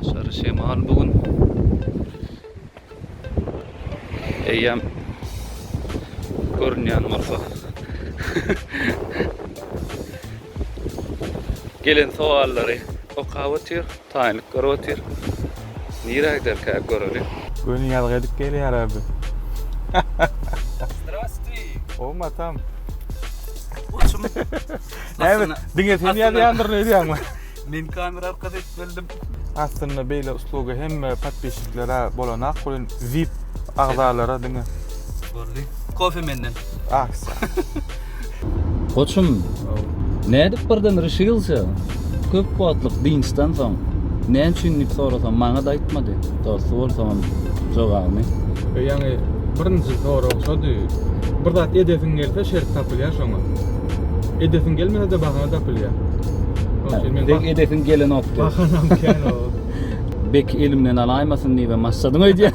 Aşary şemal bu gün. Eýýäm görünýän bolsa. Gelen sowallary okap otyr. Taýynlyk görüp otyr. Nirä giderkä göreli. Göni ýazgy edip gelýär a biz. Zdrastwi. Ow matam. Goçum. Näme diňe sen ýazýandyr öýdýäňmi? Men kamera arkasy edip geldim. Aslynda beýle uslugy hemme podpisçiklere bolanak welin vip agzalara diňe. Boldy. Kofe menden. Ah. Goçum, nädip birden ryşilşa? Köp wagtlyk dynçdan soň, näme üçin diýip sorasam, maňa-da aýtmady. Dosty bolsagam, jogabyny. E, ýaňy birinji sorag şody. Bir zat edesiň gelse, şert tapylýar şoňa. Edesiň gelmese-de bahana tapylýar. Şonuň üçin men. Pek edesiň gelenokdy. Bahanam kän ol. Bek elimden alaýmasyn diýibem başladym öýdýän.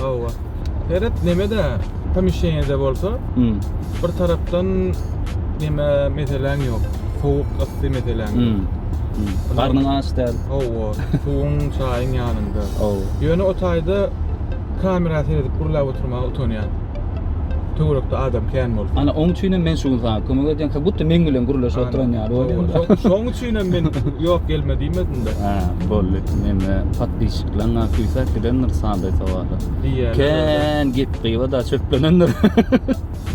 Hawa. Seret nemede pomişenede bolsa, hmm. bir tarapdan neme meseleň ýok. Sowuk ysy meseleň. Hmm. hmm. Garnyň aç däl. Hawa. Suwuň, çaýyň ýanynda. Hawa. Ýöne o taýda kamera seredip gurlap oturmaga utanýan. Töwerekde adam kän bolsa. Ana oň üçin hem men şu gün sana kömek edýän. Ka gutda men bilen gurlaşyp oturan ýaly bolýar. Şoň Üstüne men yok gelme diýmedim de. Ha, bolly. Mende podpisçiklerine küýsäp gidendir sada sowala. Diýýäler. Kän gep gyba da çöplenendir.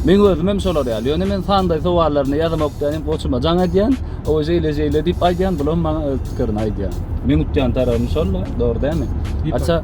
Men özüm hem şolar ýaly. Ýöne men sanday sowallaryny ýazamok diýen goçuma jaň edýän. O şeýle şeýle diýip aýdýan, bulam maňa öz pikirini aýdýan. Meň utýan tarabym şol-da, dogry dämi? Aça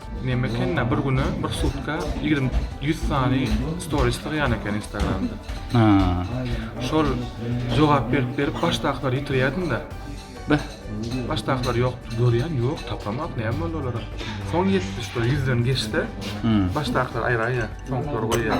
Neme ekenda bir güne bir sutka 20 100 sany stories taýýan eken Instagramda. Ha. Şol jogap berip berip başdakylar ýitirýärdim da. Beh. Başdakylar ýok, görýän ýok, tapamak näme boldy olara. Soň ýetdi şol 100 den geçse, başdakylar aýraýýar, soňkylary goýýar.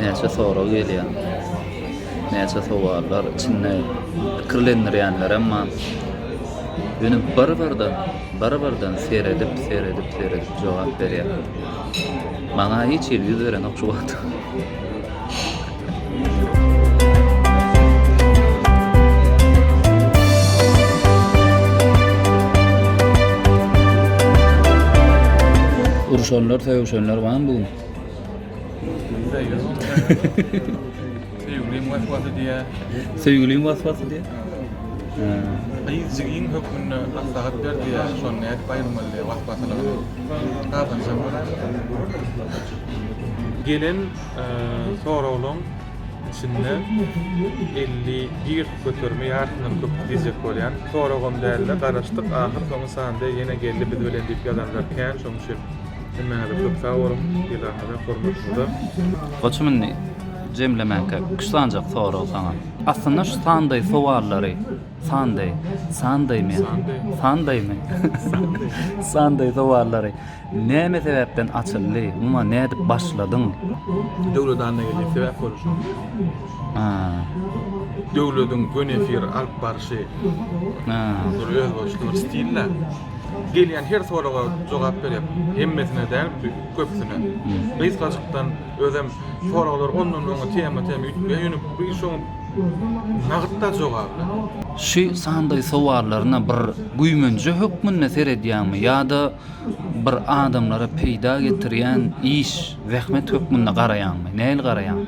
Näçe sorag gelýär. Näçe sowallar içinde pikirlendirýänlerem bar. Ýöne bir-birden, bir-birden seredip, seredip, seredip jogap berýär. Maňa hiç hili ýüz berenok şu wagta. Uruşanlar, sögüşenler barmy bu gün? Söýgüliň waswasy diýä. Söýgüliň waswasy diýä. Gyz jigin hökmünde maslahat ber diýä. Şony nädip aýyrmaly diýä waswasylygyny. Gazanjak bolar. Gelen soraglaryň içinde 51 göterimi ýarysyndan köp diýjek bolýan. Soragam dälde garaşdyk, ahyr soňy Sandeý ýene geldi biz bilen diýip ýazanlar kän şoň üçin. Hemmäňize köp sag boluň, yzarňyza, hormatymyza. Goçum indi jemlemäňkä üç sanjak sorag saňa. Aslynda şu sandaý sowallary, sandaý, sandaýmy, sandaýmy, sandaý sowallary näme sebäpden açyldy, muňa nädip başladyň? Döwlet Annageldiýew sebäp boldy şoňa. Döwlediň gönefir alyp barşy bir özboluşly bir stil-dä. Gelýän her soraga jogap berýär. Hemmesine däl, köpüsine. Gysgajykdan özem soraglar ondan oňa tema tema üýtgär. Ýöne bu işoň nagytda jogaby. Şu sandaý sowallaryna bir güýmenje hökmünde seredýäňmi ýa-da bir adamlara peýda getirýän iş, zähmet hökmünde garaýaňmy? Nähili garaýaň?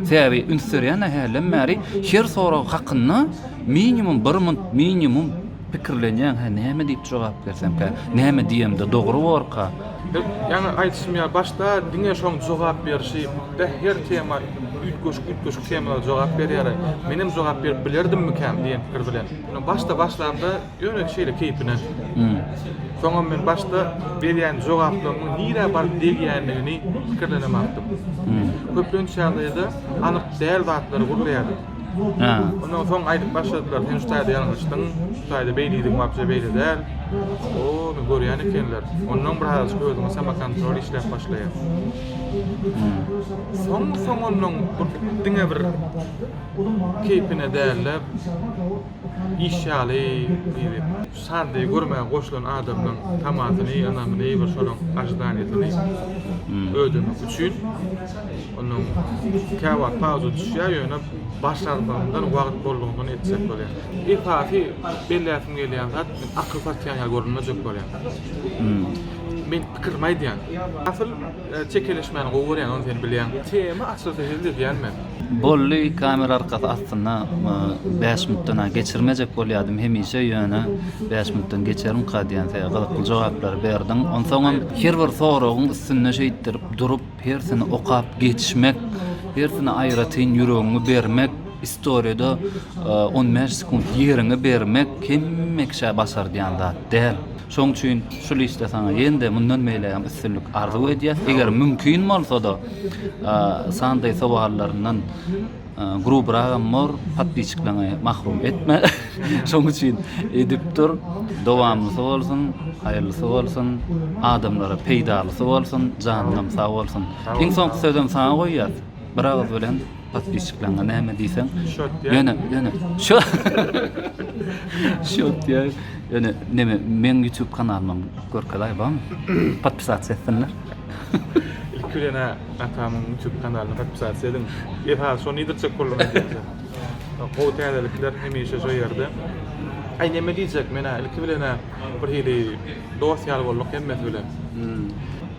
Sebäbi üns berýän-ä hälden bäri her sorag hakynda minimum bir munt, minimum Pikirlenýän, hä, näme diýip jogap bersemkä? Näme diýemde dogry borka? Hek, ýaňy aýdyşym ýaly, başda diňe şoň jogap berşi, beh, her tema üýtgeşik-üýtgeşik temalara jogap berýär-ä, menem jogap berip bilerdimmikäm diýen pikir bilen. Ýöne başda başlamda ýöne şeýle keýpine. Soňam men başda berýän jogaplarymyň nirä baryp degýändigini pikirlenemapdym. Köplenç ýagdaýda anyk däl zatlary gürleýärdim. Ha. Ondan soň aýdyp başladylar, sen şu taýda ýalňyşdyň, şu taýda beýlediň, wapşe beýle däl. O, men görýän ekenler. Ondan bir azajyk özüňe samokontrol işläp başlaýar. Soň soň ondan bir diňe bir keýpine däl-de, iş ýaly, Sandy görmäge goşulan adamynyň tamasyny, ynamyny, bir şonuň ažidaniýasyny ödemek üçin onuň käwagt pauza düşýär, ýöne başarmagyndan wagt boldugyndan etsek bolýar. Esasy belläsim gelýän zat, men akyl satýan ýaly görünmejek bolýan. Men pikirimi aýdýan. Asyl Çekeleşmäni gowy görýän ony sen bilýäň. Tema açylsa hezil edýän men. Bolly kamera arkasy astynda bäş minutdan a geçirmejek bolýadym hemişe ýöne bäş minutdan geçerimka diýen seri gyzykly jogaplary berdiň onsoňam her bir soragyň üstünde şeýtdirip durup hersini okap geçmek hersine aýratyn ýüregiňi bermek istoriýada on bäş sekunt ýeriňi bermek hemme kişä başardýan zat däl Şoň üçin şul işde saňa ýene-de mundan beýle hem üstünlik arzuw edýäs. Eger mümkin bolsa-da, sandaý sowallaryndan grubyragam bor, podpisçikleriňi mahrum etme. Şoň üçin edip dur, dowamlysy bolsun, haýyrlysy bolsun, adamlara peýdalysy bolsun, janyňam sag bolsun. Iň soňky sözem saňa goýýas, bir agyz bilen Podpisçikleriňe näme diýseň, ýöne, ýöne, şo, şo diýär, ýöne, näme, meň YouTube kanalymam görkezaý barmy? Podpisasiýa etsinler. Ilki bilen ha, atamyň YouTube kanalyna podpisasiýa ediň. Esasy şony iýdirjek boldum ejeňize. Gowy täzelikler hemişe şo ýerde. Aý, näme diýjek, men-ä, ilki bilen-ä, birhili dost ýaly bolduk hemmesi bilen.